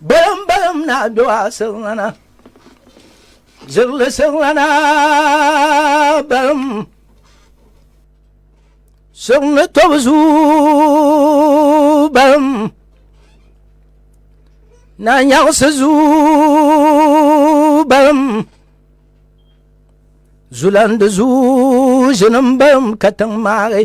Balim balim na do a sirilana Zirili sirilana balim Sirini tobu zuu balim Na nyaɣisi zuu balim Zulandi zuu ʒinim balim katiŋ maagi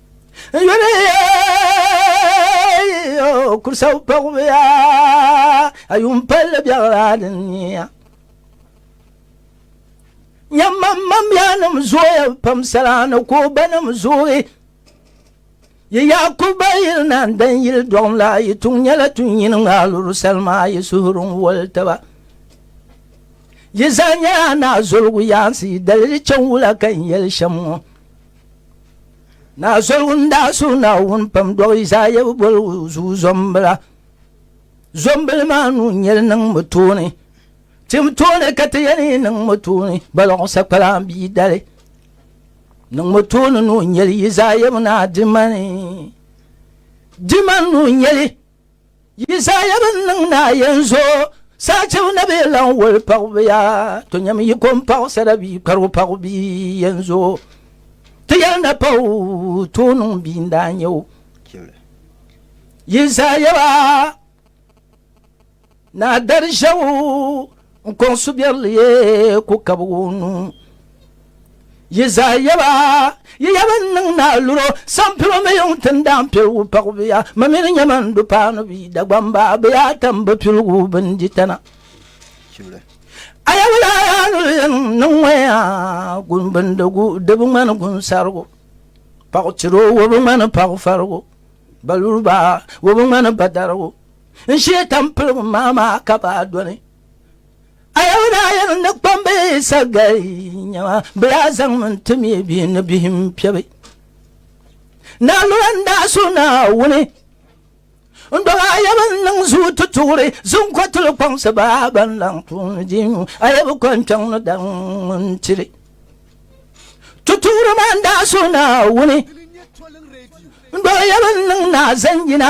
n yuli yo kursaw pagbiya a yun palli biɛɣilaa din niya nyɛmmammabiɛnim zooya pam salaa ni ko banim zooyi yi yaakuba yili na n dan yili dɔɣim la yi tuŋ nyɛla tu nyini ŋaaluru salima yi suhuri n woli taba yi zaa nyɛla naa zoligu yaansi yi daliri chɛn wula ka n yɛli shɛm ŋɔ Naa Zolwun daa suhi Naawuni pam dɔɣi Izaaya bi boli o zuɣu zɔmbila. Zɔmbili maa nuu nyɛli niŋ mi tooni. Tim tooni ka ti yɛn yi niŋ mi tooni balɔɣ sakpalaan bia dali. Niŋ mi tooni nuu nyɛli Izaaya mi naa dimani. Dimani nuu nyɛli. Yisaaya bi niŋ ni a yɛn zo saachibu ni bee lan woli paɣibiya tonyam yiko m-paɣisira bia kpɛrigu paɣibu bia yɛn zo ti yɛli na pa o tooi niŋ bia n-daa nyɛ o. Yisaaya ba. Naa dari ʒɛbu n kɔŋ subiɛrili ye ku kabigi o nuu. Yi zaa yaba, yi ya bɛn niŋ naa luro, sampilo mi yuŋ tin daan piligu paɣibuya, ma mi ni nya ma n-du paanu bia Dagbamba bɛ yaa tam bɛ piligu bɛn di tana. A ya wula a yaa ni yɛn niŋ ŋɔ ya, gumbindigu di bi ŋmani gunsarigu, paɣitiro o bi ŋmani paɣifarigu, baluriba o bi ŋmani badarigu. n shee tampilim maa maa ka baa doli ayabu daa yɛn ni kpambi sagali nyɛma bi daa zaŋmi n ti mi bihi ni bihi n piɛbi naa lura n daa so naa wuni n dɔg ayabu n niŋ zuu ti tuɣuri zinkɔtili kpaŋsi baa ban laŋ tuuni diinu ayabu kɔn kpɛŋ ni daŋ n tiri tutuɣuri maa n daa so naa wuni n dɔg ayabu n niŋ naa zanjina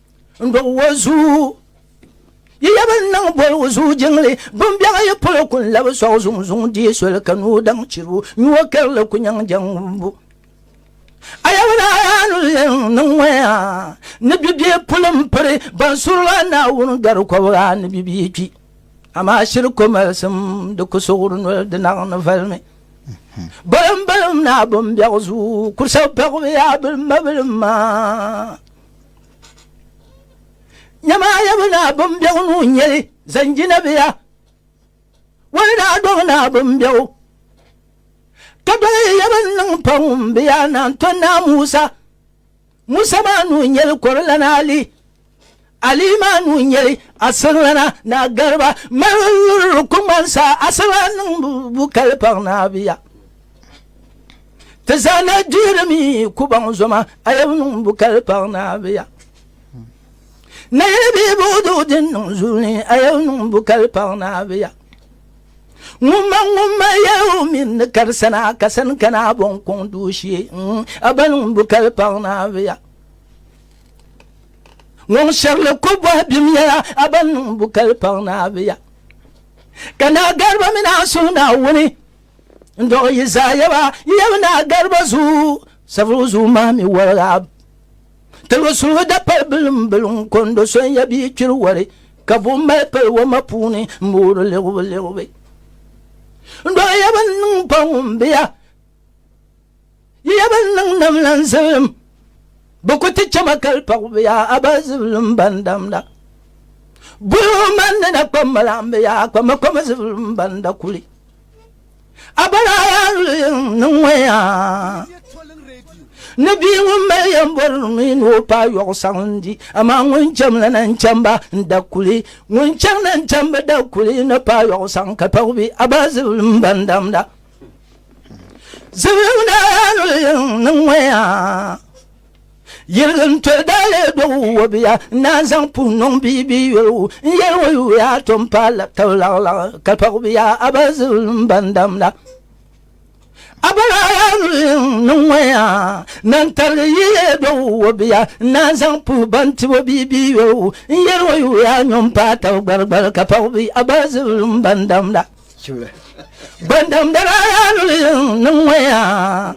n do o zuu yi yaba n niŋ boligu zuu jiŋli bimbɛŋa yi polo ku n labi sɔɣu zuŋ zuŋ dii soli ka ni o daŋ chiribu nyuo karili ku nyaŋ jaŋ wumbu a yaba daa yaa ni yɛn niŋ ŋɔya ni bibie puli n piri ban surila naawuni gari kɔbiga ni bibie kpi amaa shiri ko malisim di ku suɣuri noli di naɣ ni valimi balim balim naa bimbɛɣu zuu ku sabi paɣibi yaa bilim ma bilim maa Nyamaaya bi naa bimbɛgu nuu nyɛli zanjinabiya wani daa dɔbi naa bimbɛgu ka doli ya bin niŋ pa ŋun bi yaa naan to naa Musa Musa maa nuu nyɛli kɔrilana Ali Ali maa nuu nyɛli asirlana naa Gariba mali yuri kuŋmansa asirlana niŋ bu kali paɣa naa biya Ti zaa na dihiri mi kubaŋ zoma ayɛbu niŋ bu kali paɣa naabiya. Na yɛli bi buɣudu din niŋ zuuni ayɛbu niŋ bu kali paɣa naabiya. Ŋun ma ŋun ma yɛlibu min ni kari sana ka sani kana bɔn kɔŋ duushee mm, a ba niŋ bu kali paɣa naabiya. Ŋun shɛrili ko bɔhi bim yɛla a ba niŋ bu kali paɣa naabiya. Ka naa Gariba mini a suhu Naawuni N-dɔɣi yi zaa yaba yaba ni a gariba zuu, Saviru zuu maa mi waliga. Tiligu suligu dapali bilimbili n-kondo so n-ya bia kpiri wari, ka buɣim mali pali wama puuni m-boori liɣibuliɣibu. N-dɔɣi yaba n-niŋ pa ŋun be ya. Yiya ban niŋ nam la n zibilim, bɛ ku ti chɛma kali pɔɣi bɛ yaa a ba zibilim ban damda. Buli o man ni na kpam ma la n bɛ yaa kpam ma kpam zibilim ban da kuli. A ba daa yaa luli yin ni ŋɔ yaa ni bia ŋun mali yɛmbɔri mi ni o paai yɔɣu saŋ n di, amaa ŋun chɛm la na n chɛm ba n da kuli. Ŋun chɛŋ na n chɛm bi da kuli ni paai yɔɣu saŋ kali pɔɣi bɛ a ba zibilim ban damda. yɛlin tɔ dali dɔg wabiya na zaŋ puhi niŋ bia bia yɔligu n yɛli wa yuya tom pa tabi laɣilaɣi ka pɔɣibiya a ba zibilim ban damda a bala niŋ ŋɔ ya nan tarigi yiye dɔg wabiya na zaŋ puhi ban tibo bia bia yɔligu n yɛli wa yuya nyɔm pa tabi gbarigbari ka pɔɣibiya a ba zibilim ban damda Gbandamdala yaa nuli niŋ ŋɔ yaa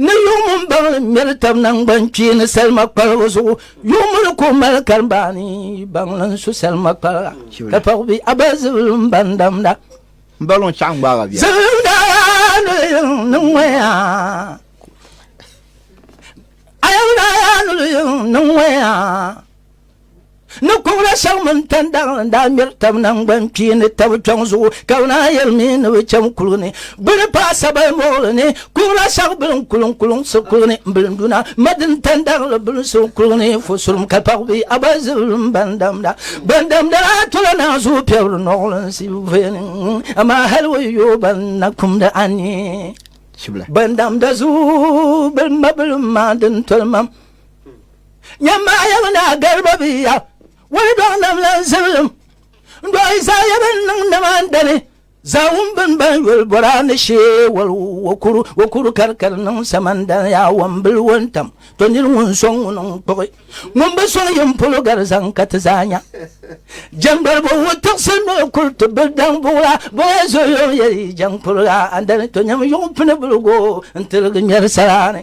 ni yuŋ n baŋli ŋmɛri tab nangban kpee ni salima kpalibu zuɣu yuŋ mini ko mali karimbaani baŋli n su salima kpaliga ka paɣi bi aba zibili n bandamda n baŋli n chaɣa gbaaga biya zibimda yaa nuli niŋ ŋɔ yaa ayamda yaa nuli niŋ ŋɔ yaa ni kɔbila shɛŋ mini tandaɣa n daa ŋmɛri tabi nangbani kpee ni tabi kpɛŋ zuɣu ka bi naan yɛli mi ni bi chaŋ kuligi ni gbuni paai Sabayi Moɣili ni kɔbila shɛŋ bili n kuli n kulinsi kuligi ni n bilinduna madini tandaɣili bilinsi kuligi ni fusurum ka paɣi bi a ba zibili n ban damda ban damda daa tola naa zuɣu piɛbiri nɔɣilinsi veni amaa hali o yi yooi ban na kumdi anii ban damda zuɣu bilimma bilimma din toli mam nyɛmmaaya bi naa gariba bi ya wali dɔŋ nam la n zibilim n dɔɣi Izaya bin niŋ nimaan dani zaawun bin ban yoli bɔra ni shee wali wakuru wakuru karikari niŋ samandani yaa wambili wuntam to nini ŋun sɔŋ ŋun n kpuɣi ŋun bi sɔŋ yin polo gari zaŋ ka ti zaa nya jɛŋgbaribo wu tiɣisi ni o kuri ti bil daŋ buɣula bɔya zoyo n yɛli jɛŋ kuriga andani to nyɛm yuɣu pini biligo n tiligi ŋmɛri saraani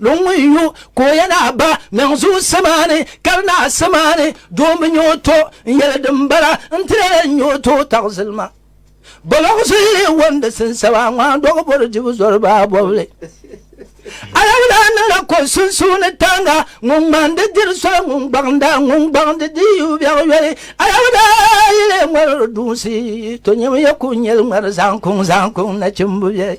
Luŋ ŋun yu ka o yɛn a ba niŋ zuɣu samaani ka di naa samaani doo mi nyɛ o to n yɛli din bala n ti lee n nyɛ o to taɣi zilima boloɣu zuyi wan di sinsaba ŋmaa dɔɣi bori dibu zɔri baa bɔbili alawula niŋla ko sunsuuni tanga ŋun ŋman di diri soli ŋun gbaɣinda ŋun gbaɣin di di yu biɛɣu yoli alawula yi lee ŋɔri duusi to nyɛm ya ku nyɛli ŋmari zaŋ kuŋ zaŋ kuŋ nachimbu biɛli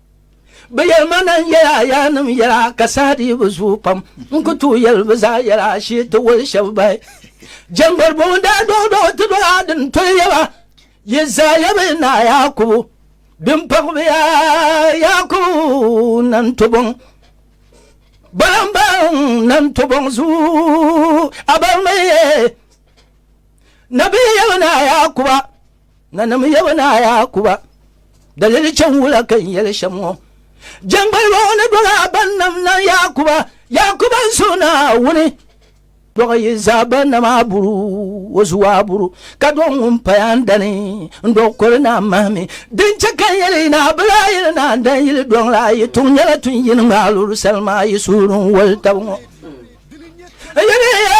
Bɛ yɛli ma na n-yɛl a yaannim yɛl a ka saha dii bi zooi pam. N ku tooi yɛli bɛ zaa yɛl a shee ti wali shɛb bahi. Jɛmbar bɔŋɔ daa dɔɣidɔɣi ti dɔɣi a din toli yɛl ba, Yi zaa ya bɛ naa Yaakubu. Bɛ ni pag bɛ ya Yaakubu na n-to bɔŋ. Bala m-ba n na n-to bɔŋ zuyu a ba mi. Nabihi ya bɛ naa Yaakuba. Nanim yaba ni a Yaakuba, dalili chɛŋ wula ka n yɛli shɛm ŋɔ? Jɛŋgbaliba ŋɔ ni dɔg a bannim nam Yaakuba, Yaakuba n suhu Naawuni dɔg yi zaa banna maa buru, o zuwa buru, ka dɔg ŋun paya n dani n dɔg kɔli ni a mahimi. Din chɛ ka n yɛli yi ni a bila a yili ni a dan yili dɔŋ la, a yi tuŋ nyɛla tun yini ŋɔ a luri salima a yi suhuri n woli tabi ŋɔ. N yɛli ya,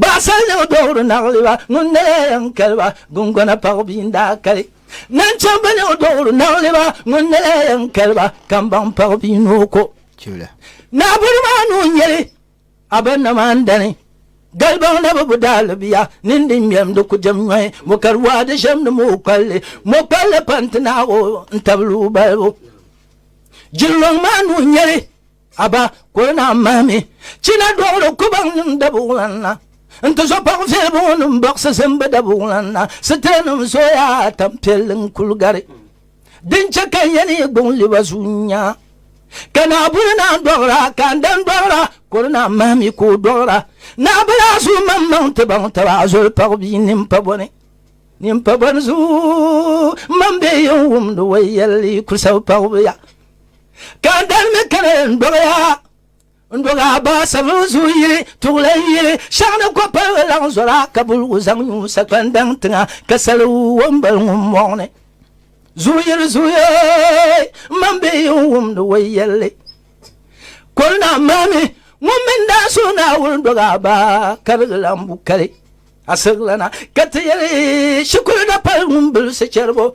Baɣisarilim dɔɣiri naɣiliba ŋun na yaa yɛn kali ba, gungɔna paɣ bia n-daa kali. Naŋchɛmbilim dɔɣiri naɣiliba ŋun na yaa yɛn kali ba, kambaŋ paɣ bia ni o ko. Naɣibɔri maa ni o nya li, a ba nam a ni dani. Galibaŋ na bi bu daa li bia, nini din ŋmɛlim di ku jɛm nyɔhi. Mɔkari waa di ʒɛmdi mɔkpalli, mɔkpalli pa n-ti naɣ o n-tabili o balibu. Jilɔŋ maa ni o nya li. Aba kuli naa mahimi china dɔɣiri kubaŋnim dabuɣulanna nti zo paɣ fɛlibuŋɔnim baɣisi zimbu dabuɣulanna. Sitiranim zoya tampiɛlli n-kul gari din chɛ ka n yɛn yi gbuŋ li ba zuyu nya. Ka Naawuni naa dɔɣira, ka n dan dɔɣira, kuli naa mahimi ka o dɔɣira. Naa bi lahi zuhi maŋmaŋ ti baŋ taba azoli paɣ bia nini pa bɔ ni. Nini pa bɔ ni zuyu, m ma m bɛ yi yɛn wumdi o yɛlli, yi kul sabi paɣibu ya. ka n dali mi kani n dɔbiya n dɔga baa sabiri zuɣu yili tuɣili n yili shɛŋa ni ko palibi laŋ zɔra ka buligu zaŋ nyu sakpani daŋ tiŋa ka sali wɔmbali ŋun mɔɣini zuuyiri zuuyee m man bɛ yi n wumdi wɔi yɛlli kɔli na maami ŋun mini daa so naawuni dɔga baa karigi lan bu kali asirigilana ka ti yɛli shikuru da pali ŋun bilisi chɛribo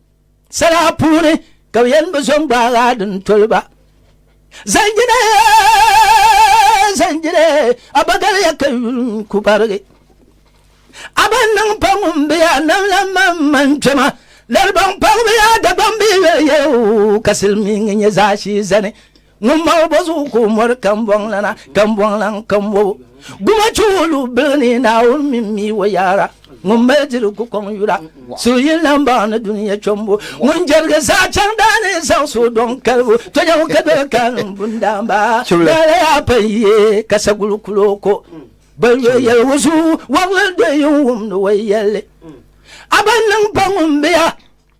Sala puuni ka bɛ yɛn bi zo n-gbaag a din toli ba. Zanjire, zanjire, a ba galiya ka yuli n-ku barigi. A ba niŋ pa ŋun be a nam la maŋmaŋ kpɛma, lalibaŋ paɣibu yaa Dagbamb bee yoli yɛligu ka silimiiŋ nyɛ zaashee zani Ŋun mali bo zuɣu ka o mɔri kambɔŋlana, kambɔŋlan kambobu. Guma che o lu bili ni Naawuni mini mi o yaara. Ŋun mali diri ku kɔŋ yura, suhuyini lan baŋ ni dunia chombu. Ŋun jerigi saha chaŋ daa ni zaŋ suhi dɔŋ kalibu, tonya o ka doli ka niŋ bundaamba. Lala yaa pa n-ye ka saguli kul o ko. Ban yo yɛligu zuɣu wɔbili do yi n-wumdi o yɛlli. A ba niŋ pa ŋun be ya.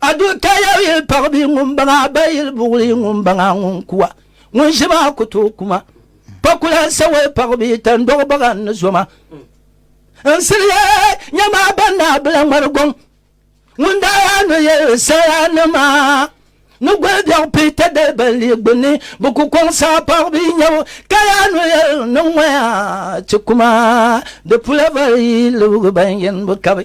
Adu ka ya yi paɣi bi ŋun baŋa ba yil buɣuli ŋun baŋa ŋun kuwa ŋun ʒi maa ku tooi kuma pa kula sawa paɣi bi tan dɔɣi baga n ni zoma n siliya nya maa ban naa bila ŋmari gɔŋ ŋun daa yaa ni yɛ saya ni maa ni goli biɛɣu pi ta dali ban li gbunni bi ku kɔŋ saa paɣi bi nyɛbu ka yaa ni yɛ ni ŋɔya ti kuma di pula vari yi libigi ban yɛn bi kabi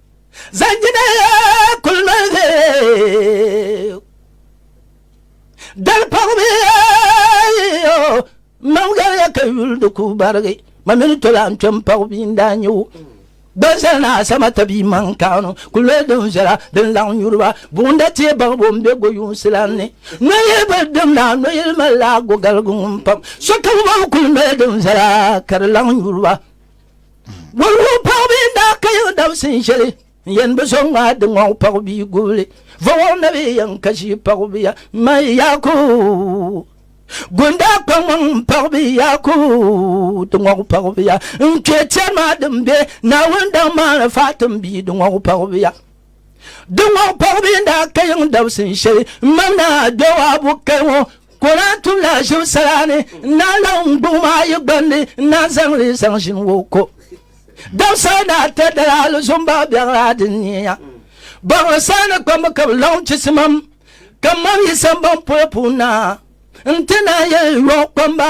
Zanjina kuli manzi dali pɔgbi yo mam gariya ka yuli di ku barigi ma mini tola n kpɛm pɔgbi n daa nyɛ o gbansali ni asama tabi maŋ kaanu kuli loyi din viɛla din laŋ nyuriba buɣunda tiɛ baɣibo n be goyunsi lan ni noyili bi dim naa noyili mali laa gogaligu ŋun pam sokam bɔbu kuli loyi din viɛla ka di laŋ nyuriba Wulgu paɣ bee daa ka yiɣi dabsi n shɛli n yɛn bi so ŋmaa di ŋɔɣu paɣ bia gubili vɔwɔŋ na bee yɛn ka ʒii paɣ bia mai yaaku gun daa kpa ŋmaŋ n paɣ bee yaaku di ŋɔɣu paɣ bia n kpɛ tɛri maa din bɛ Naawuni daŋ maa ni Faatim bia di ŋɔɣu paɣ bia di ŋɔɣu paɣ bee daa ka yiŋ dabsi n shɛli n mam naa Jɔwaabu kali ŋɔ Ka o lahi tum la ʒim sala ni n-lahi laɣim n-gbuɣim a yi gbandi n-lahi zaŋ li zaŋ ʒini wo ko. Dabisal ni ata dala alizom baɣa biɛɣira din neei ya. Baɣiri saha ni kpambu ka bɛ laɣim chisimam, ka mam yi sambaŋ polo puuni na n-ti naanyi yɔɣu kpamba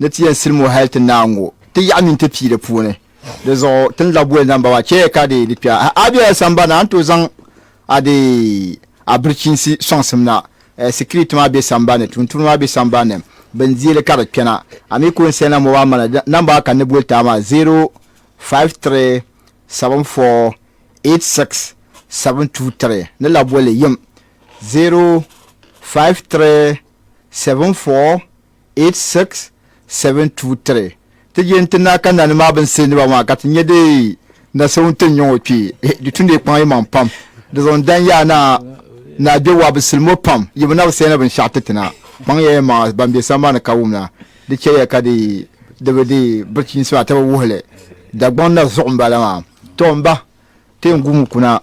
Ni ti yɛn silim o hal ti naai ŋ-gu ti yaɣa mini ti pii di puuni. Di zuɣu ti ni lahi boli namba maa, Chɛya ka di di kpɛha. A bela sambani a ni tooi zaŋ a di a birichinsi sɔŋsim na. Sikiriti maa be sambani, tuuntumdi maa be sambani, bini dii li ka di kpɛna. A mi kuli n-sɛnla mobal mana namba maa ka n ni boli ti a maa, 053748672 ni lahi boli yim, 05374. 86723 ti je nti na ka nani maa bin siriniba maa ka ti nya di na so ŋun ti ni nyɔŋ o kpee eh, di tumdi kpaŋ yi maŋ pam di zuɣu n-dan yaa na na a Jɔwuwa bi silim o pam yi bi na bi sɛina binshɛɣu ti ti na kpaŋ ya ya maŋa ban be sambani ka wumna di chɛ ya ka di di bi di birchiinsi maa ti bi wuhi li Dagbaŋ na zuɣu m-bala maa. Tɔ m ba, ti yɛn guumi kuna.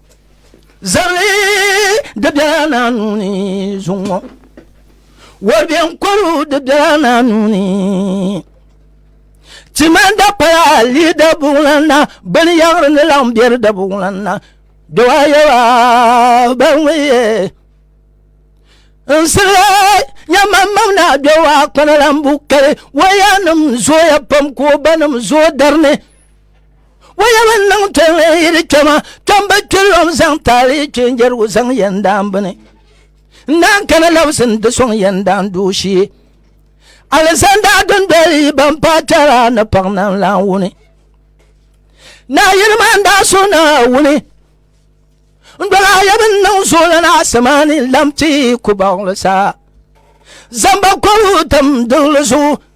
Zabili di biɛla naa nuu ni zuŋ ŋɔ wari bɛ n kɔru di biɛla naa nuu ni timan da paya lii da buŋlan na bini yaɣiri ni laɣim bɛ di da buŋlan na dɔwa yɛba ban ŋun yɛ n sirila nyɛman mam na dɔwa kpana lan bu kali waya nim zooya pam ka o ba nim zooi dari ni wayaba niŋ tɔni yiri kpɛma tɔmba kpɛlɔm zaŋ taali kpɛnjɛrigu zaŋ yɛn daan bini n daan kana labisi n ti sɔŋ yɛn daan duu shee alizanda dundoli ban paai kpɛra ni paɣa nan lan wuni naa yiri maa n daa so naa wuni n dɔla ayaba n niŋ zooli na asamaani lamti ku baɣali saa zamba kɔbu tam dili zuɣu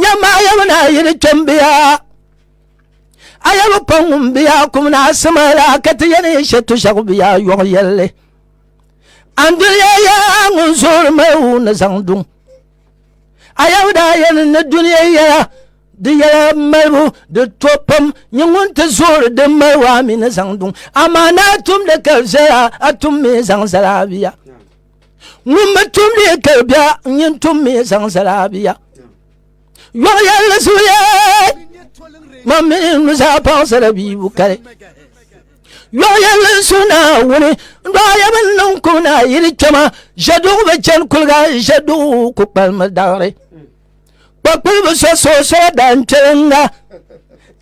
Nyamma a yɛbu naa yi di kpɛmbiya a yɛbu pa ŋumbiya kum naa simala ka ti yɛni shɛtu shɛgu biya yɔɣu yɛlli an duniya ya ŋun zoori mayu ni zaŋ duŋ a yɛbu daa yɛni ni duniya yɛla di yɛla malibu di to pam nyɛ ŋun ti zoori din mali waa mi ni zaŋ duŋ amaa naa tumdi ka viɛla a tum mi zaŋ zala biya ŋun mi tum mi kali bia n yin tum mi zaŋ zala bia yɔɣu yɛlli zuya man mi nuzaa paɣasara bia bu kali yɔɣu yɛlli n su naawuni n dɔɣi yɛbi n niŋ ku na yili kpɛma ʒɛduɣu bi chani kuliga ʒɛduɣu ku kpalimi daɣiri kpakpuli bi so soosora daa n kpɛlinga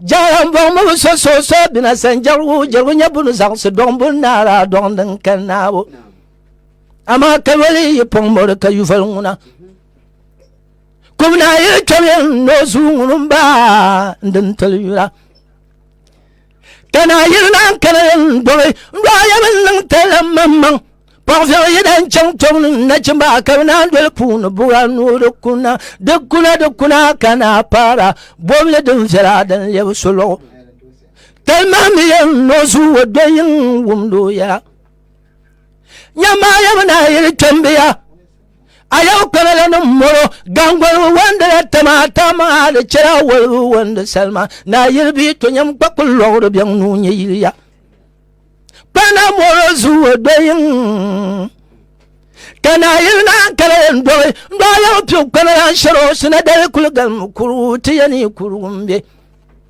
jaara n bɔŋmi bi so soosora bina san jɛrigu jɛrigu nyɛ bunu zaɣisi dɔŋ bun naara dɔŋ din kali naabu amaa kawali yi pɔŋ mɔri ka yuval ŋuna kubna yi kpɛmyɛn ni o zuu ŋuni ba din tili yura ka na yiri lan kana yɛn dɔbi n dɔɣa yɛn niŋ tala maŋmaŋ pɔɣifiɛɣu yi dan chaŋ tɔbu ni nachimba ka bi naan doli puuni buɣa nuu di kuna di kuna di kuna ka na paara bɔbili din viɛla din lɛbi solɔɣu tali maa mi yɛn ni o zuu o dɔyi n wumdi o yɛla nyamaya bɛ naa yili kpɛmbiya a yau kpɛmila ni mɔro gangolibu wandila tama ta maa di chɛla wolibu wandi salima naa yili bi to nyam kpa kuli lɔɣiri bɛŋ nuu nyɛ yiliya kpana mɔro zuwa doyin ka naa yili naa kala yɛn dɔɣi n dɔɣi yau piu kpɛmila shɛro sina dali kuli galimi kurugu ti yɛni kurugu m-be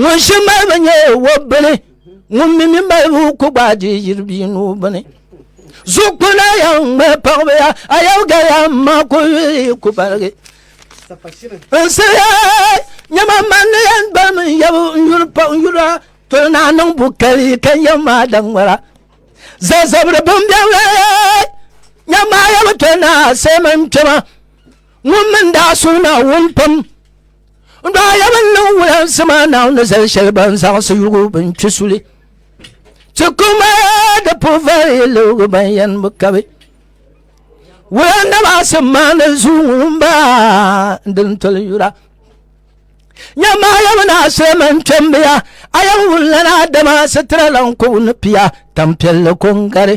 ŋun shi malibu nyɛ wɔbbili ŋun mi mi malibu ku gbaadi yiri bia nuu bini zuɣukpuna ya ŋmɛ paɣaba ya a yau gaya ma ku yuli ku baligi n siriya nyɛma manni yan bami n yabu n yuli paɣ n yula toli naa niŋ bu kali ka yɛ maa da ŋmɛra zazabiri bin biɛla nyɛma yabu toli naa sai man kpɛma ŋun min daa suli na wun pam N daa yɛli n niŋ wulansi maa naawuni ni zali shɛli ban zaŋsi yugu bin kpi suli ti kuma di puvari lugu ban yɛn bi kabi wulan namaasi maa ni zuu ŋun baa din toli yura nyɛma yɛmi na asirama n kpɛmbiya a yɛm wulana dama sitira lan kɔbu ni piya tampiɛlli ko n gari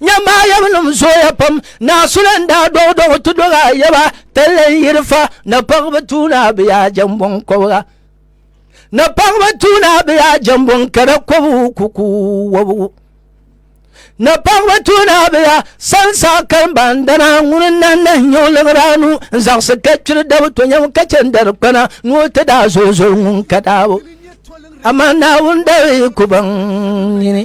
Nyɛmbaayɛbinim zooya pam naasuli n daa dɔɣi dɔɣi ti dɔɣi ayaba tali n yiri fa na paɣiba tuuna bi yaa jɛmbɔŋ kɔbiga na paɣiba tuuna bi yaa jɛmbɔŋ kada kɔbigu kuku wɔbigu na paɣiba tuuna bi yaa sansa kalimbandana ŋuni n nan nahi nyɛ o liɣiri anu n zaɣisi ka kpiri dabi to nyɛm ka chɛ n dari kpana ni o ti daa zooi zooi ŋun ka daabo amaa naawuni dari ku baŋ nini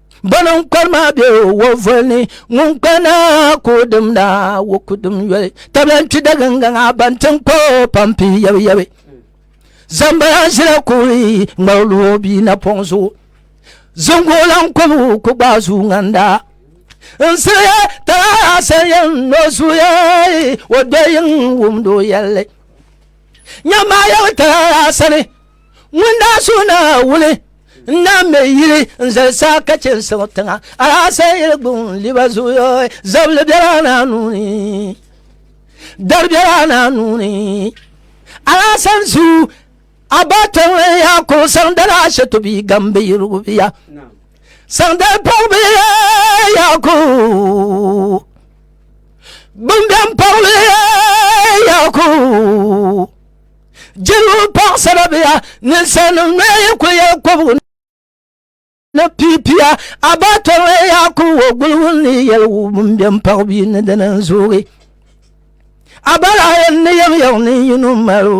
Bana n kpari maa be wo voli ni ŋun kpa naa ka o dim naa wo ku dim yoli tabila n kpi dagingaŋ a ban tin kpa o pampi yabi yabi zambala ʒila kuɣi ŋmari lu o bia napɔŋ zuɣu zingo lan kɔbu ku gbaai zuu ŋanda n siliya talaala sanyɛn ni o zuya o dɔyiŋ wumdi o yɛlli nyɛmmaa yabi talaala sani ŋun daa suhu na wuli n na me yili n zali saa ka chɛ n siɣi tiŋa alaasee yili gbun liba zuyo zabili biɛla na nuuni dari biɛla na nuuni alaasan su a ba tiŋli ya ko saŋ dala ashe to bi gambi yirigu biya saŋ dal pɔg bi ya ko gbun biɛm pɔg bi ya ko jiribu paɣasara biya ninsalinima nɔya yi kuli yɛli kɔbigu ni piipiya abaatɔri ya kuli wo guligu ni yɛli wubiŋ bɛn paɣi bi ni dini n zoogi abala yɛn ni yɛm yɛŋ ni yino mali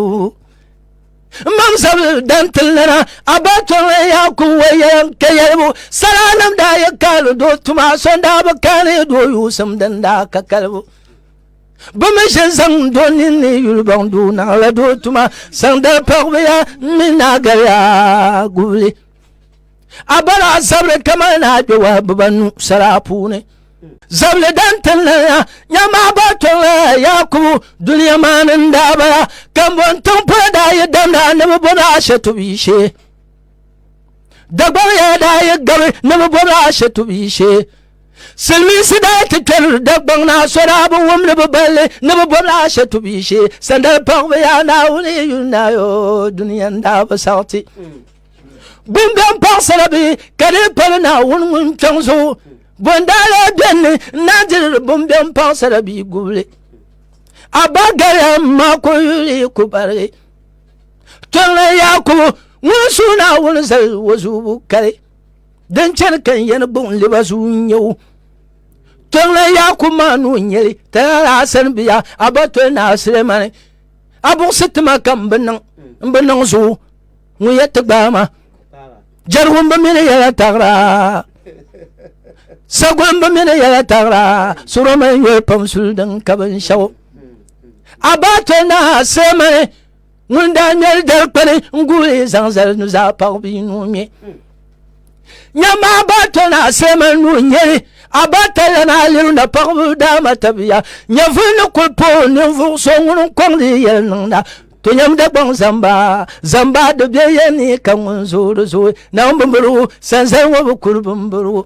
mam zabili dan tili nana abaatɔri ya kuli wo yɛlim ka yɛlibu salanim daa yɛ kaali doo tuma so daa bi kaani doo yuusim din daa ka kalibu Bɛ mi ʒe zaŋ do ninni yuli baŋ doo naɣila doo tuma zaŋ dali paɣibiya mi naa galiya gubili. A bala a zabiri kamali ni a kpɛwa bibanu sala puuni. Zabili dan tinlaniya nya maa gba tɔŋla Yaakubu dunia maa ni n-daa bala. Kambon tiŋ polo daa yi damda ni bɛ bo ni Ashɛtu bia shee. Dagbariya daa yi gabi ni bi bɔbi ashɛtubi shee. Silimiinsi daa ti kpɛri Dagbaŋ naa so daa bi wum ni bi balli ni bi bɔbi ashɛtubi shee. Sandali paɣiba yaa Naawuni yi yuli naa yoo duniya n-daa bi sariti. Bumbɛn paɣisara bi ka dii pali Naawuni ŋun kpiɔŋ zuɣu. Bo n-daa lee beni ni n-daa diri bumbɛn paɣisara bia gubili. Abagariya m-ma kuli yuli yi ku barigi. tɔŋni Yaakubu ŋun suhi Naawuni zali o zuubu kali din chani ka n yɛni gbuɣin liba zuu n-nyɛ o tɔŋni Yaakubu maa nuu n-nyɛli Talala Hasani bia Abatɔi Naa Sulemani a buɣisi ti ma ka m bi niŋ m bi niŋ zuɣu ŋun yɛ ti gbaai ma jɛrigu m bi mini yɛla taɣira sagol m bi mini yɛla taɣira sɔrɔmali nyɔri pam suli din ka binshɛɣu abate na semani ŋun daa ŋmɛli dali kpani n guli zaŋ zali nuzaa paɣa bia nuu ŋmɛ nyɛma abate na semani nuu nyɛli abate lana aliru na paɣabu daama tabiya nyɛvuli ni kuli po ninvuɣ so ŋun n kɔŋdi yɛli niŋda to nyɛm dagbaŋ zamba zamba di bɛ yɛ ni ka ŋun zoori zooi na n bimbirigu sanzali ŋɔ bi kuli bimbirigu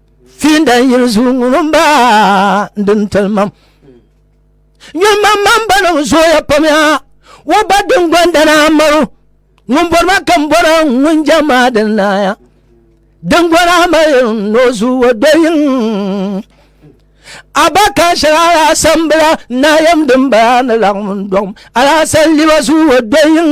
fiinda n yili zuɣu ŋun n ba din tilimam nyɔmam mam ba niŋ zooya pam ya wo ba din gondana maru ŋun bɔri ma kam bɔra ŋun jɛ maa din naaya din gɔna mali no zuɣu wo doyin abaka shɛli alaasambila naayam din bala ni laɣim dɔɣim alaasan liba zuɣu wo doyin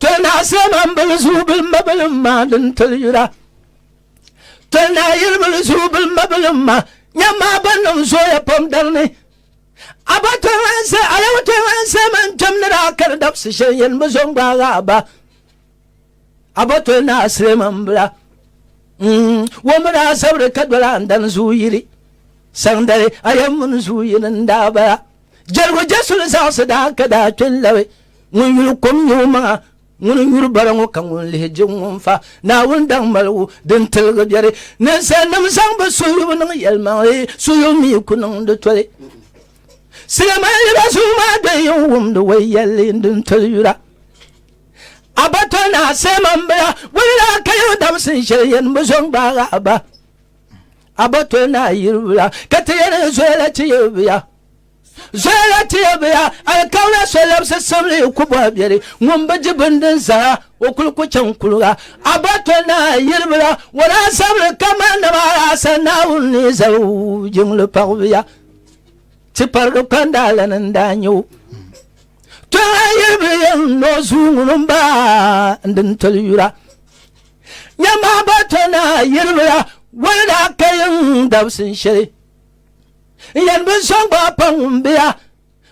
Tolnaase man bil zuu bil ma bil ma din tili yura Tolnaa yili bil zuu bil ma bil ma nyam maa ban niŋ zooya pam dari ni Aba tolnaase alaw tolnaase man kpɛm ni daa kari dabsi shɛli yɛn bi zo n gbaagi aba Aba tolnaase man bila mm, wo mi daa zabiri ka doli andani zuu yili saŋdali ayɛm mini zuu yini n daa bala Jɛligu Jesu ni zaɣisi daa ka daa kpe n-labi ŋun yuli kom nyɛ o maŋa, ŋuni n-yuri bara ŋɔ ka ŋuni lihi je ŋun fa Naawuni daŋ maligu din tiligi biɛri. Ninsalinim zaŋ bɛ suhuyubu niŋ yɛlimaŋli, suhuyubu mi ku niŋdi toli. Siliminliba zuŋ maa do yi n wumdi wei yɛlli din toli yura. A ba toli ni a seeman bila, bɔ ni daa ka yi damsin shɛli yɛn bi zo n-gbaag a ba. abatol naa yiribuya ka ti yɛli ni zoyala ti yiribuya zoyala ti yiribuya alikauna so labisi simli ku bɔhi biɛri ŋun bi di bini din zara o kuli ku chaŋ kuliga abatol naa yiribuya o daa zabiri kamani dama alaasa naawuni ni zali jiŋli paɣibuya ti parigi kpandaala ni n daa nyɛ o tɔla yiribuya n noo zuu ŋuni n baa n din toli yura Nyama ba to naa yiribila wali daa ka yin dabsin shɛli. N yɛn bi sɔŋ ba pa ŋun biya,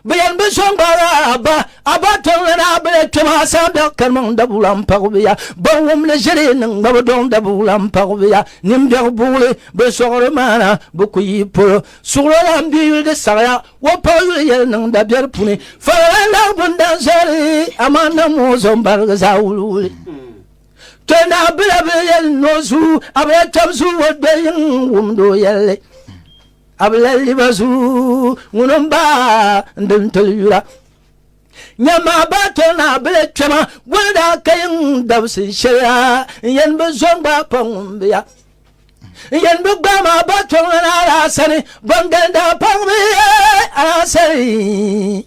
bi yɛn bi sɔŋ ba raa ba, a ba tɔŋ la naa bila kpɛm a saa biɛɣu karimaŋ dabuwula m-paɣibiya. Ban wum li ʒiri niŋ gba bi dɔŋ dabuwula m-paɣibiya. Nin biɛɣu buɣili bi sɔɣiri maana bi ku yi polo. Suɣilo lan bi yuli di saɣiya, o paɣi yuli yɛli niŋ dabiɛri puni. Fara lan laɣi bini dan zɔri, amaa namuuzo m-barigi zaa wuliwuli. Tɔ naa bila bi yɛli ni o zu, a bi la tab zu o doli yiŋ wumdi o yɛlli. A bi la liba zu ŋuni n ba n di n toli yura. Nya maa baa tɔ naa bila kpɛma goli daa ka yiŋ dabisi shɛli la n yɛn bi zo n gbaai pa ŋun bi ya. N yɛn bi gbaai maa baa tɔ ŋuna a daa sani, bɔŋ gani daa paŋ bi a daa sani.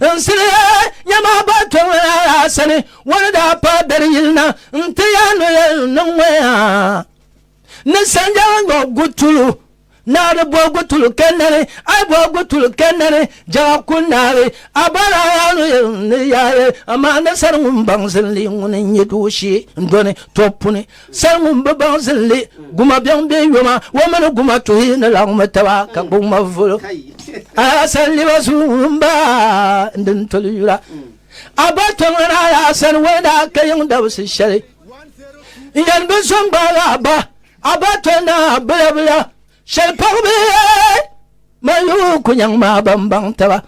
N siliya nya maa ba to ŋɔ a sani, ŋɔ ni daa paai beri yili na n-ti ya ni yɛn niŋ ŋɔ ya. Ni sanjala ŋɔ gutulu naari bɔ gutulu kɛndani, a bɔ gutulu kɛndani, jɛɣa ku naari a ba la ya ni yɛn ni yaai, amaa ni sani ŋun baŋsim li ŋuni n-nyɛ dooshee n-dɔni tɔb puni. Sal ŋun bi baŋ zilli, guma biɛŋ bee yoma, o mini guma tuhi ni laɣimmi taba ka gbubi ŋmavolo. A ya sani liba zuyu ŋun ba n din toli yura. A ba kpe ŋan a ya sani o ni daa ka yiŋ dabisi shɛli. N yɛn bi zo n gbaagi a ba, a ba toli ni a bilabilia. Shɛli paɣ bi man yi o kunyaŋ maa ban baŋ taba.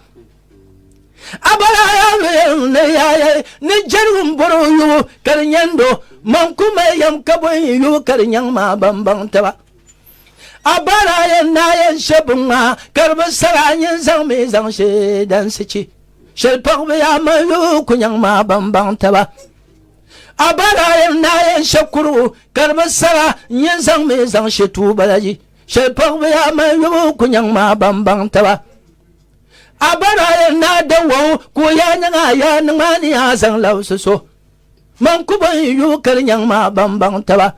A bala a yaa mi yɛlim ni yaaya ni jɛligu m-bɔri o yubu ka di nyandi o. Man ku mali yɛm ka bɔhi yi yubu ka di nyaŋ maa ban baŋ taba. A bala a yɛn naa yɛn she biŋmaa ka di bi sara a nyin zaŋ mi zaŋ she dansi chi. Shɛli paɣ bi yaa man yi o kunyaŋ maa ban baŋ taba. A ba daa yɛn daa yɛn shɛ kurigu ka di bi sara n-yɛn zaŋ mi zaŋ shɛ tuu bala yi shɛli paɣiba yaa mali yɔbu ku nyaŋ maa ban baŋ taba. A ba daa yɛn daa da wɔŋ ka o yaa nyaŋ a yaa niŋ a ni yaa zaŋ labisi so. Man ku bɔn yi yɔbu kali nyaŋ maa ban baŋ taba.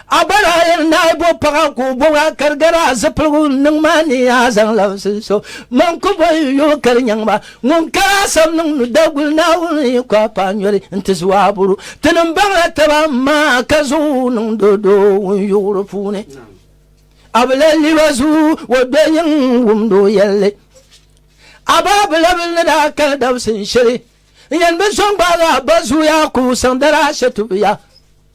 A ba daa yɛli ni a yi bo paɣa ka o bɔbi a kari gari a zipiligu niŋ ma ni a zaŋ labisi n so man ku bo yi yuli ka di nyaŋ ma ŋun ka a sani niŋ ni Daguli Naawuni yi ku a paɣa n yoli n ti zuhi a buru ti ni baŋ la taba n ma ka zuhi o niŋ do doo ŋun yuɣuri puuni a bi lahi li ba zuhi o do yiŋ wumdi o yɛlli a ba a bilabili ni daa kali dabisi n shɛli n yɛn bi so n gbaagi a ba zuya ka o saŋ dara a shɛtubiya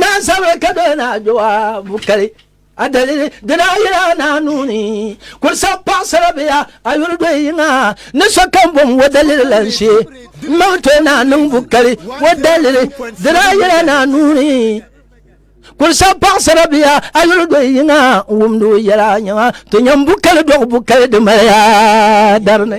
Naa sabiri ka doli naa Jɔabu kali a dalili di daa yila naa nuu ni ka o sabi paɣasara bɛ yaa a yuli doli yiŋa ni sokam bom o dalili lan shee m-maŋ ti o naa niŋbu kali o dalili di daa yila naa nuu ni ka o sabi paɣasara bɛ yaa a yuli doli yiŋa n-wumdi o yɛla nyaŋa ti nyam bu kali dɔɣi bu kali di mali yaa dari ni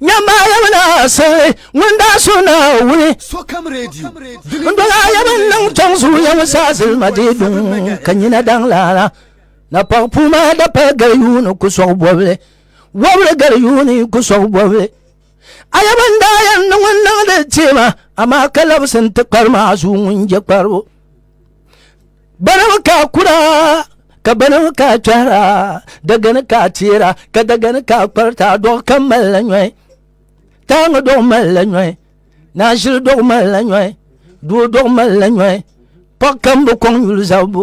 Nyambaayaba naa sirili ŋun daa so Naawuni. Sokam Radio. N dɔlaayaba n-niŋ chaŋ zuliya ŋɔ saa zilima dee duŋ ka nyina daŋ laala. Napɔɣ puu maa da pali gali yuuni ku sɔɣi bɔbili. Wɔbili gali yuuni ku sɔɣi bɔbili. Ayaba n daa yɛn niŋ n niŋdi teema amaa ka labisi n-ti kpari maa zuŋun je kparibu. Banama ka a kura ka banama ka a kpɛhira dagani ka a teera ka dagani ka a kparita a dɔɣu kam malila nyɔhi taaŋa dɔɣu malila nyɔhi naashili dɔɣu malila nyɔhi doo dɔɣu malila nyɔhi paɣa kam bi kɔŋ yuli zabibu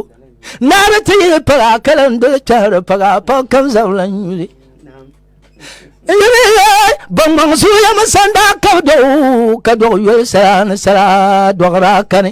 naara ti yi paɣa ka lan doli kpɛhiri paɣa paɣa kam zabila yuli bɔŋbɔŋ zuya mi sanda ka dɔɣu ka dɔɣu yoli sara ni sara dɔɣira kani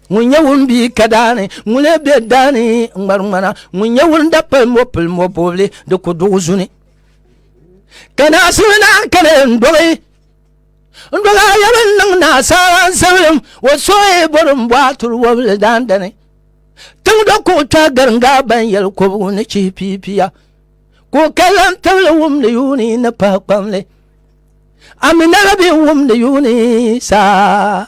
ŋun nyɛ ŋun bi ka daani ŋun lee bɛ daani n ŋmari ŋmana ŋun nyɛ ŋun da pali mo pili mo bobli di ku duɣu zuni ka naasuli naan kani n dogi n dogi a yɛli n niŋ naasaala n sabilim o soyi bori n bɔhi turi wobili daandani tiŋ do ka o kpɛhi garinga ban yɛli kobigu ni chihi piipiya ka o kalla n tibili wumdi yuuni ni pahi kpamli aminala bɛ wumdi yuuni saa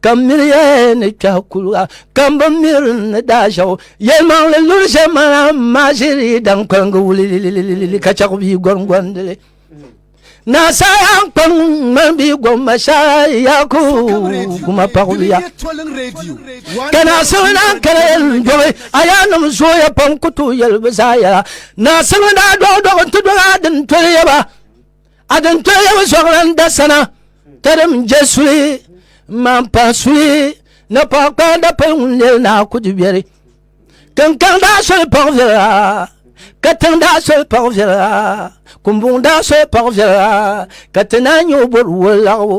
ka miliya ni kpɛɣu kuliga ka n bi miri ni daashɛgu yɛlimaŋli luri shɛm mana maa ʒiri dan kpaligi wulilililili ka chɛɣu bia gɔngɔndili naasaya n kpa ŋmani bia gɔmba shɛra yaku guma paɣubiya ka naasimi daa kala yɛli n dɔbi a yaa nim zooya pam ku tooi yɛli bi zaa yɛla naasimi daa dɔɣi dɔɣi n ti dɔɣi a din toli yɛba Adintoyabu zuɣulan da sana tarim je suli man pa suli na pa kpa da pal ŋun lel na kudi biɛri kankan daa soli paɣ viɛla ka tiŋ daa soli paɣ viɛla kumbuŋ daa soli paɣ viɛla ka ti naa nyɛ o bɔri wol laɣibu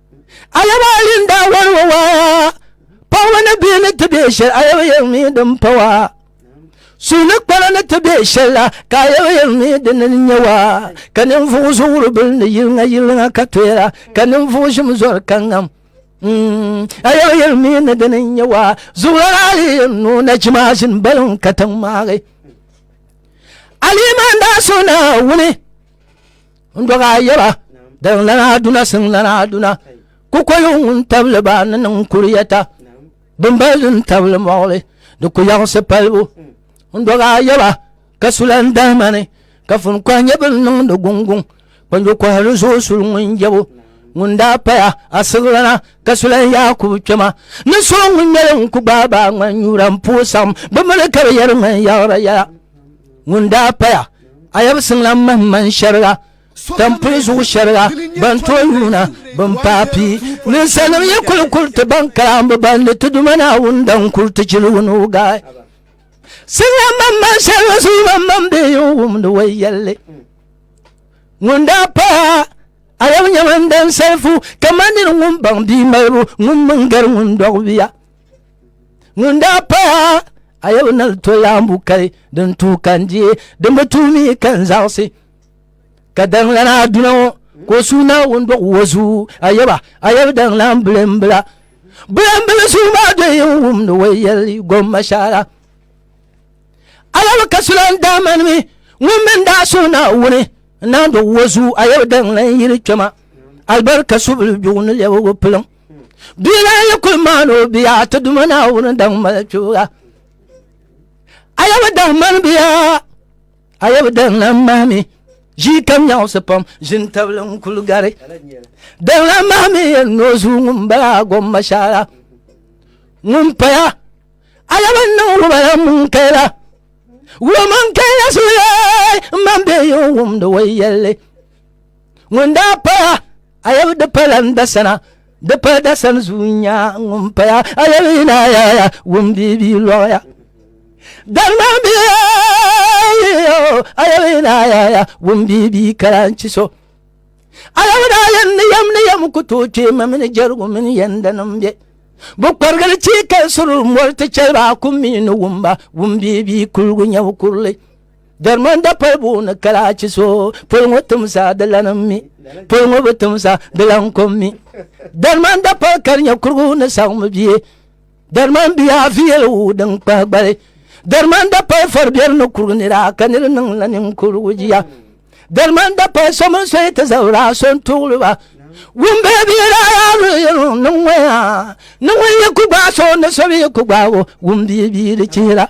Ayaba yin daa wari wa waa paɣaba ni bihi ni ti bɛ shɛli ayaba yɛn mi din pa waa suhili kpala ni ti bɛ shɛli la ka ayaba yɛn mi din ni nyɛ waa ka ninvuɣu so wuri bili ni yiliŋa yiliŋa ka toyira ka ninvuɣu shim zɔri ka ŋam ayaba yɛn mi ni din ni nyɛ waa zuɣulana ali yɛn nuu na chimaashin balin ka tiŋ maagi aliman daa so na wuni Ndoga yɛba din lana duna siŋ lana duna kukoyu ŋun tabili ba ni niŋ kuriyɛta bimbali din tabili mɔɣili di ku yaɣisi palibu ndoga yɛba ka sulan dahima ni ka fun kɔhi nyɛ bin niŋdi gunguŋ kpanjo kɔhi ni zuɣu suli ŋun jɛbu ŋun daa paya asiɣilana ka sulan yaakubu kpɛma ni so ŋun nyɛli n ku gbaai baa ŋman nyura n puhi saɣim bi mini ka bi yɛri ŋman yaɣira yɛla ŋun daa paya ayab siŋlam mahiman shɛriga tampuli zuɣu shɛriga ban to yuuna bin paai pii ninsalim yi kuli kuli ti ban kalambu ban ni ti duma naawuni dan kuli ti chiligu ni o gaai siŋlam mahiman shɛriga zuɣu mahiman bɛ yi wumdi wai yɛlli ŋun daa paya ayab nyɛman dan salifu kamani ŋun baŋ bia malibu ŋun mini gari ŋun dɔɣi bia ŋun daa paya a yɛbu na to laambu kali din tuui ka n diɛ din bi tuui mi ka n zaɣisi ka daŋlana duna ŋɔ ka o suui naawuni dɔɣi o zuɣu a yɛba a yɛbu daŋlan bilimbila bilimbili suui maa do yi n wumdi o yɛli gomma shara a yɛbu ka sulan daa mani mi ŋun min daa suui naawuni n naan dɔɣi o zuɣu a yɛbu daŋlan yili kpɛma alibarika subili bigu ni lɛbigu piliŋ bia maa yi kuli maani o bia ti duma naawuni daŋ mali kpibuga a yɛ bi daŋ mani bia a yɛ bi daŋ lan mahi mi ʒii kam nyaɣisi pam ʒini tabili n kuli gari daŋ lan mahi mi yɛn ni o zuu ŋun bala gom mashaara ŋun paya a yɛ bi niŋ wubala mun kɛla wuman kɛla sulee n man bɛ yi wumdi wai yɛlli ŋun daa paya Ayɛbu di pala n dasana di pala dasani zuu nya ŋun paya ayɛbu yina yaya wun bia bia lɔɣaya dalima bia ayɛbu yina yaya wun bia bia kalanchi so ayɛbu daa yɛn ni yɛm ni yɛm ku tooi kpee ma mini jɛrigu mini yɛnda nim bɛ bi kparigili chii ka suri mɔri ti chɛli ba kum mi ni wumba wun bia bia kuligu nyɛbu kurili Jarimanda palibu ni kalaachi so polo ŋɔ timsa di lanim mi polo ŋɔ bi timsa di lan kom mi Jarimanda pali ka di nyɛ kurigu ni saɣimi bie Jariman bia afi yɛli wuu din kpahi gbali Jarimanda pali fari biɛri ni kurigu nira ka niri niŋ la ninkurigu jia Jarimanda pali so mini so yi ti zabira so n tuɣili ba wumbe bia daa yaa luɣiyɛliŋ ni ŋɔ yaa ni ŋun yi ku gbaai so ni so bi yi ku gbaai o wumbi bia di chihira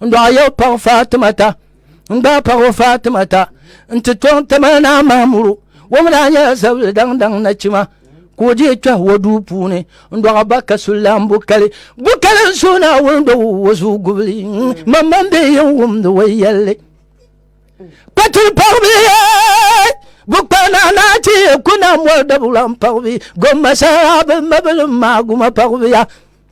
n dɔɣa yɛ paɣa faatimata n gbaai paɣa faatimata n ti tɔŋ tamaha naa mahamuru wɔm daa nyɛla zabili daŋ daŋ nachima ka o dihi kpɛhi o duu puuni n dɔɣa ba ka sulan bukali bukali n suhi naa wuli dɔgu o zuu gubili mamman bɛ yɛn wumdi o yɛlli kpatuli paɣabi bukpa naa naa ti kuna mɔri dabulan paɣabi gomma saha bi mabilim maa guma paɣabiya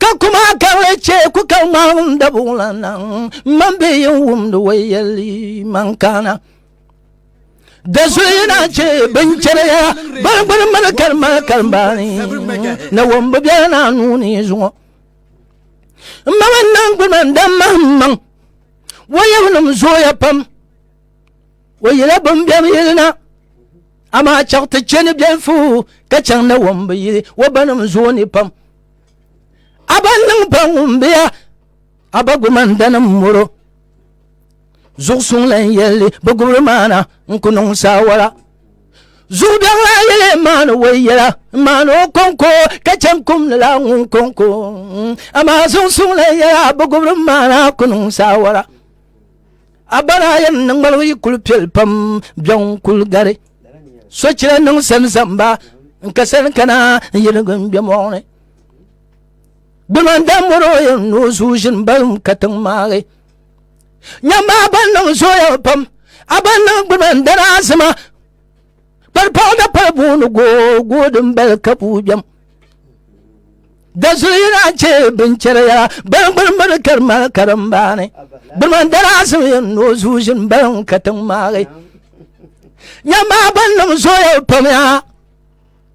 ka kuma karili chɛ ku ka ŋmaŋ dabuŋ la niŋ man bɛ yin wumdi o yɛli man kana dazuyi na chɛ bin chɛriya ban gbuni mali kalima kalimbaani na wɔm bi biɛla na nuuni zuŋɔ n ma man niŋ gbuni man dam mahim maŋ wɔyɛbu nim zooya pam o yila bin bɛm yili na amaa chɛɣu ti chɛ ni bɛn fuhu ka chɛŋ na wɔm bi yili o ba nim zooi ni pam a ba niŋ ba ŋun biya a ba gumanda nim moro zuɣu suŋ lan yɛlli bi gubiri maana n ku niŋ saawara zuɣu bɛŋ la yɛli n maani o yɛla n maani o kɔŋko ka chɛŋ kum ni la ŋun kɔŋko amaa zuɣu suŋ lan yɛla bi gubiri maana ku niŋ saawara a bala yɛn niŋ ŋmalibu yi kuli piɛli pam biɛŋ kuli gari sochira niŋ sani zamba n ka sani kana n yɛligi n bɛ mɔɣuni gbuliman dan mɔro yɛn ni o zuu ʒini balim ka tiŋ maagi nyɛmba ban niŋ zooya pam a ban niŋ gbuliman dana azima pali paɣada pali booni gooi din bali ka buu jam dasuli yina chɛ binchɛra ya bali gbuni mini kari mali karimbaani gbuni dara asim yɛn noo zuu ʒini bali n ka tiŋ maagi nyɛmaa ban niŋ zooya pam ya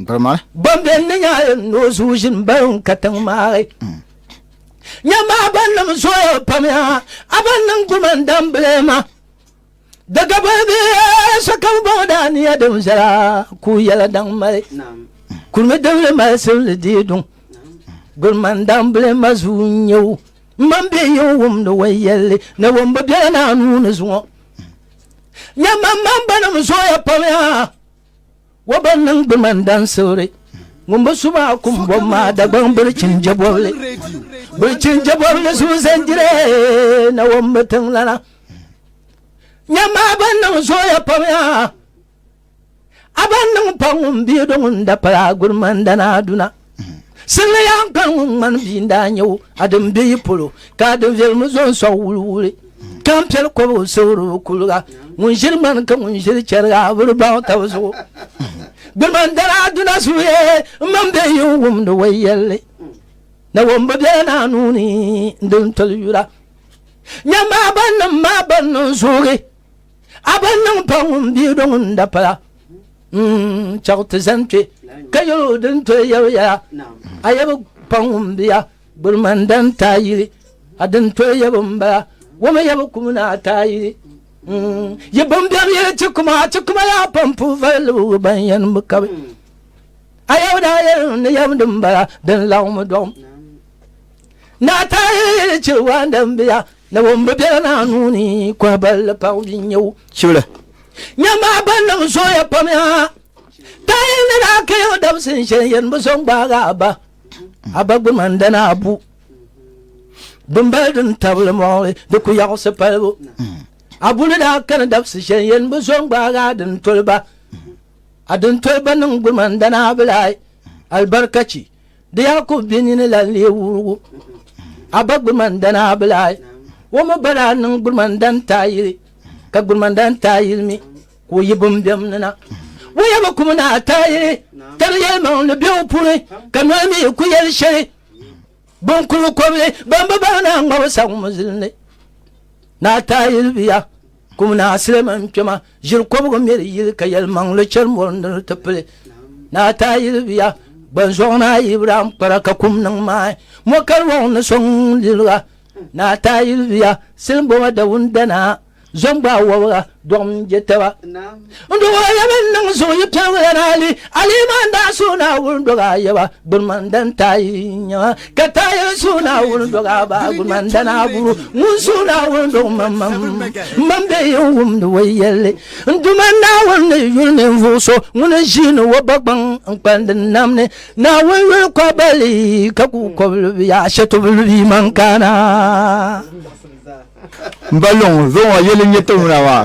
Gbarima. Ban bɛ ni nya noo zuu ʒini ban ka tiŋ maali. Mm. Nya maa ban nim zooya pam ya, a ban niŋ guma n dam bilema. Daga boli bi so kam bɔŋɔ daa ni ya din viɛla ku yɛla daŋ mali. Kurimi dibili mali sibili dii duŋ. Gbarima n dam bilema zuu n nyewu. Mman bɛ yi n wumdi wa yɛlli ni wum bi bɛla naa nuu ni zuŋɔ. Nya man man banim zooya pam ya. Wa ban niŋ bɛ man dan sibiri ŋun bi su maa kum bom maa Dagbaŋ birichin jɛbɔbili birichin jɛbɔbili zuɣu zandire na wɔm bi tiŋlana nyam maa ban niŋ zooya pam yaa a ban niŋ pa ŋun biido ŋun da pala a guri man dana aduna Siliya n kpani ŋun ŋmani bia n daa nyɛ o a din bɛ yi polo ka a din viɛlimi zo n sɔŋ wuli wuli ka n piɛli kɔba o siɣiribu kuliga ŋun ʒiri ŋmani ka ŋun ʒiri chɛriga a bi di baŋ tabi zuɣu gbirima n dara duna suye n man bɛ yi n wumdi wai yɛlli na wo n bi bɛla naa nuuni n di n toli yura nyɛmmaa ban nim maa ban niŋ zoogi a ba niŋ pa ŋun bia do ŋun da pala mm, chɛɣu ti zani kpe ka yɛl o din toli yɛbu yɛla a yɛbu pa ŋun bia gbirima n dan taa yili a din toli yɛbu n bala wama yɛbu kum ni a taa yili mm, yi bin biɛm yɛli ti kuma ti kuma yaa pam pu vali libigu ban yɛn bi kabi a yɛbu daa yɛli ni yɛbu din bala din laɣumi dɔɣum na a taa yili yɛli chɛ waan dan biya Nawumbi bela naa nuu ni, kɔhiballi paɣ bia n-nyɛ o. Chibili nya maa ba niŋ zooya pam ya. Taayili ni daa kaya o dabisi n shɛli yɛn bi so n-gbaag a ba. A ba gbi man dana a bu. Dimbali din tabili mɔɣili di ku yaɣisi palibu. A bu ni daa kani dabisi shɛli yɛn bi so n-gbaag a dintoli ba. A dintoli ba niŋ gbi man dana a bi lahi alibarikachi. Di yaa ku bɛ nini la n-lee wurugu a ba Gburimandana Abilahi. O mi ba daa niŋ Gburimandana taayili ka Gburimandana taayili mi ka o yi bimbɛm ni na. O ya bi ku mi naa taayili ka di yɛlimaŋli be o puuni ka noli mi ku yɛli shɛli binkulikɔbili ban bi bahi naa ŋmabu saŋ muzili ni. Naa taayili bi ya. Kum Naa Suleiman Kpema ʒiri kɔbigu miri yili ka yɛlimaŋli chɛri mɔri ni di ti pili. Naa Taayili bia Gbanzɔɣu Naa Ibrahim Kpara ka kum niŋ maai mɔ ka di wɔŋ ni so ŋun liliga. Naa Taayili bia Silinboma Dawuni Danaa zɔŋ gbaai wɔbiga dɔɣi mini je taba. N dɔg a yaba n niŋ zuɣu yi piɛm lan hali alima n daa suhi Naawuni dɔg a yaba gbuliman dan taai n nya ka taai n suhi Naawuni dɔg a ba gbuliman dan a buru ŋun suhi Naawuni dɔg mam mam mam bɛ yi n wumdi o yɛlli n Duuma Naawuni ni yuli ninvuɣu so ŋun ʒiini o ba gbaŋ n kpandi nam ni Naawuni yuli kɔbali ka ku kɔbili bi yaa shetubili bi man kana n ba luŋ zuɣu ŋɔ yɛli n nyɛ ti wuna maa.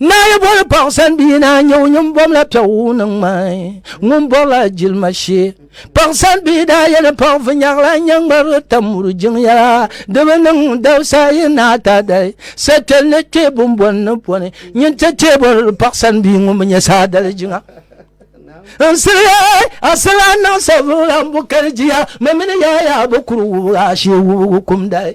Naa yi boli paɣa sani bia naa nyɛ o nyini bɔmla piɛgu ni ŋmai ŋun bɔrila jilima shee paɣa sani bia daa yɛ ni paɣa vi nyɛɣila nyɛ ŋmari tam muri jiŋ yɛla di bi niŋ dabisa yi naa ta dali sɛkpɛli ni kpɛ bimbɔni ni pɔni nyin ti tee bɔri paɣa sani bia ŋun bi nyɛ saa dali jiŋa n siliya a sila niŋ sabila n bu kali jiya mɛ mini yaaya bi kuri wubiga shee wubigu kum dali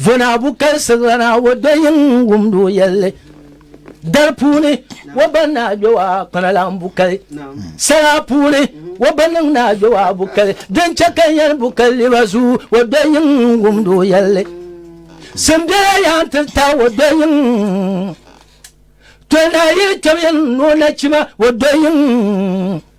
Vonabu kalisirila na o do yin wumdi o yɛlli dari puuni o ba ni a gbewa kpana la n bukali sala puuni o ba niŋ ni a gbewa bukali din chɛ ka yɛn bukali liba zu o do yin wumdi o yɛlli simbela yan ti ta o do yin tol na yili kpɛb yin ni o nachima o do yin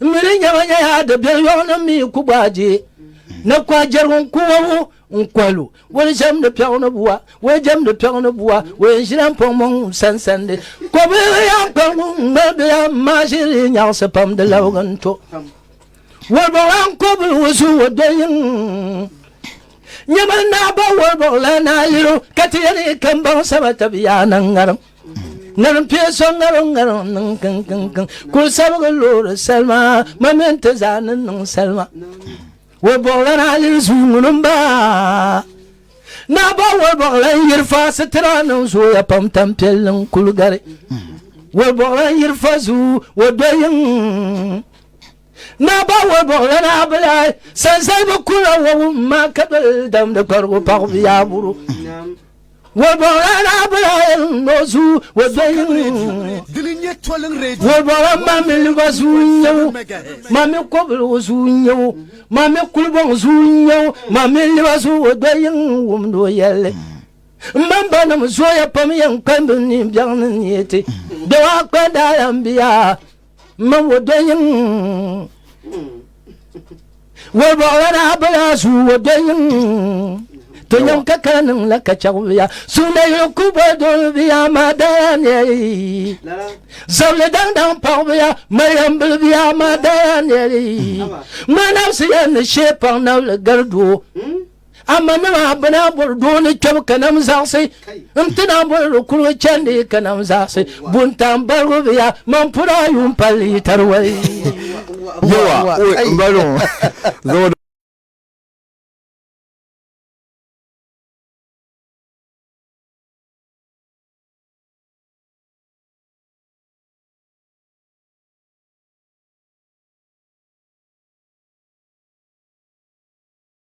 N mi di nyɛma nyɛya di biɛri yɔŋ ni mi ku gbaai je na ku a jɛrigu n ku wabu n kɔhi lu o ni jɛmdi piɛɣu ni bua o yɛn jɛmdi piɛɣu ni bua o yɛn ʒila n pɔŋ mɔŋ n sansandi kɔbiri yɛn kpɛrigu n ŋmalibiya n maa ʒiri nyaɣisi pam di labigi n to wɔlibɔɣila n kɔbiri o zuɣu o doli yiŋ nyɛma n naa ba wɔlibɔɣila naa liri o ka ti yɛli ka n baŋ sama tabi yaa na n ŋarim ŋarim pie so ŋarim ŋarim niŋ kiŋkiŋkiŋ kuli sabigi loori salima ma mini ti zaa ni niŋ salima wo bɔɣila na yiri zuu ŋuni n ba naa ba wo bɔɣila n yiri fa sitira niŋ zooya pam tam piɛlli n kuli gari wo bɔɣila n yiri fa zuu wo do yiŋ naa ba wo bɔɣila na bila sanzalibi kula wo wum maa ka doli damdi kparigu paɣu biyaa buru Wɔbɔra daa bela o zuɣu o dɔyi Wɔbɔra mami liba zuɣu n-nyɛ o mami kɔbili o zuɣu n-nyɛ o mami kulibɔŋ zuɣu n-nyɛ o mami liba zuɣu o dɔyi wumdi o yɛlli Mbanbanim zooya pam yɛn kpambi ni biɛɣuni ni ti dawaa kpa daala m-biya Mam wo do yiŋ Wo bɔɣila daa bala su wo do yiŋ To nyam ka ka niŋ la ka chɛgu biya Suunda yili ku bɔ dol biya maa daya ni Zabili daŋ daŋ paɣ biya Mariam bili biya maa daya ni Ŋmaa nabisi ya ni shee paŋ nabili gari doo hmm? Amma ni maa bɛ naa bɔri doo ni kpɛbu ka nam zaɣisi. N ti naa bɔri di kuligu chandi ka nam zaɣisi. Buntaŋ barigu bi ya man pura a yuun palli yi tari wali. Yewa, n ba luŋ, zaŋ o